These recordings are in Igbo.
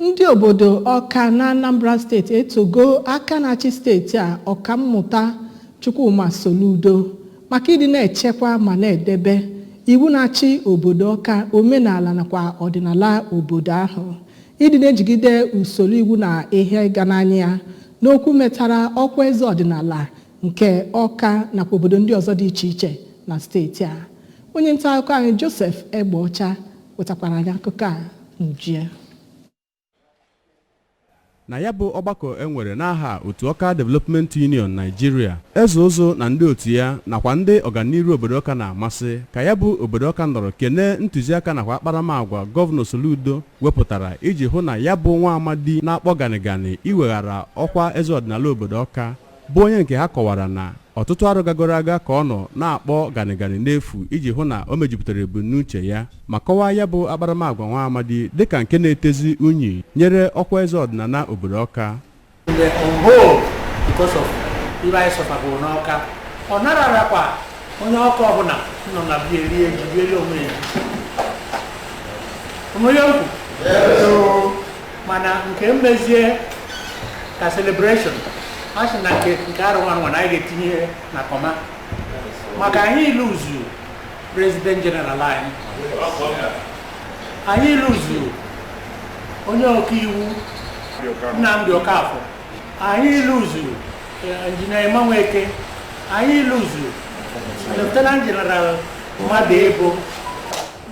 Ndị obodo Ọka n'Anambra steeti etogo aka na-achị steeti a, Ọkammụta Chukwuma Soludo maka ịdị na-echekwa ma na-edebe iwu na-achị obodo Ọka, omenala nakwa ọdịnala obodo ahụ, ịdị na-ejigide usoro iwu na ihe ịga n'anya ya n'okwu metara ọkwa eze ọdịnala nke Ọka nakwa obodo ndị ọzọ dị iche iche na steeti a. Onye ntaakụkọ anyị Joseph Egbeọcha wetakwara anyị akụkọ a n'uju ya na ya bụ ọgbakọ e nwere n'aha otu Ọka Development Union Nigeria eze ụzụ na ndị otu ya nakwa ndị ọganiru obodo ọka na-amasị ka ya bụ obodo ọka nọrọ kene ntụziaka nakwa akparamagwa gọvanọ Soludo wepụtara iji hụ na ya bụ nwa amadi na-akpọ ganịganị iweghara ọkwa eze ọdịnala obodo ọka bụ onye nke ha kọwara na ọtụtụ arọ gagoro aga ka ọ nọ na-akpọ ganịganị n'efu iji hụ na o mejupụtara ebumnuche ya ma kọwaa ya bụ akparamagwa nwa amadi dịka nke na-etezi unyi nyere ọkwa eze ọdịnala obodo ọka the on hold because of ibe anyị sọfabụrụ n'ọka ọ nararakwa onye ọka ọbụla nọ na bie rie ji riele onwe ya onwe ya okwu mana nke mmezie ka celebration a sị na nke arọ a nwa na anyị ga-etinye ihe na kọma maka anyị iluzu president general anyị anyị iluzu onye ọkaiwu Nnamdi Okafọ anyị iluzu injinia Emma Nweke anyị iluzu lieutenant general Mmadụebo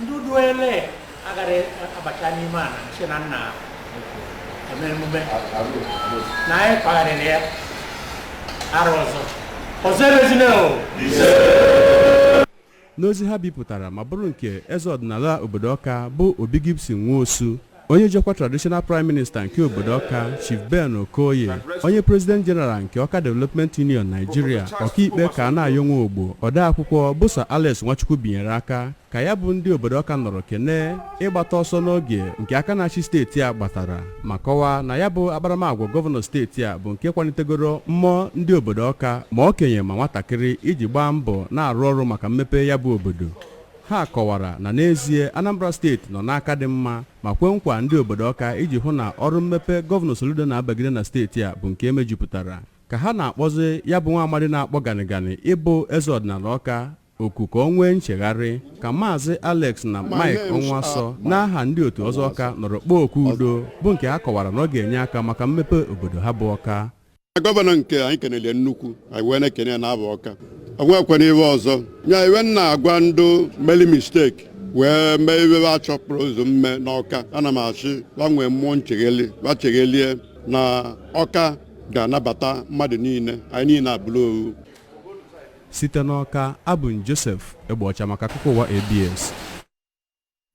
ndị uduele agara abacha n'ime ala si na nna eme emume na anyị kpagharịrị ya arọ ọzọ ọzọ emezina o n'ozi ha bipụtara ma bụrụ nke eze ọdịnala obodo ọka bụ obi gibson nwosu onye ji ọkwa traditional prime minister nke obodo ọka chief ben okoye onye president general nke ọka development union nigeria ọkaikpe Kanayọ Nwogbo odeakwụkwọ bụ sir alex nwachukwu binyere aka ka ya bụ ndị obodo ọka nọrọ kenee ịgbata ọsọ n'oge nke aka na-achị steeti a gbatara ma kọwaa na ya bụ akparamagwa gọvanọ steeti a bụ nke kwalitegoro mmụọ ndị obodo ọka ma okenye ma nwatakịrị iji gbaa mbọ na-arụ ọrụ maka mmepe ya bụ obodo ha kọwara na n'ezie anambra steeti nọ n'aka dị mma ma kwe nkwa ndị obodo ọka iji hụ na ọrụ mmepe gọvanọ soludo na-abagide na steeti a bụ nke e mejupụtara ka ha na-akpọzi ya bụ nwa amadi na-akpọ ganịganị ịbụ eze ọdịnala ọka oku ka o nwee nchegharị ka Maazị Alex na Mike Ọnwasọ n'aha ndị otu ọzọ Ọka nọrọ kpọọ oku udo bụ nke ha kọwara na ọ ga-enye aka maka mmepe obodo ha bụ Ọka gọvanọ nke anyị kenele nnukwu anyị wee na-ekene ya na-abụ Ọka o nwekwana iwe ọzọ anyị wee na-agwa ndị meli mistake wee mee iwe a chọpụrụ ụzọ mme n'Ọka ana m asị wa nwee mmụọ nchegheli wa cheghelie na Ọka ga-anabata mmadụ niile anyị niile abụrụ owu Site n'Ọka, abụ m Joseph Egbeọcha maka akụkọ ụwa ABS.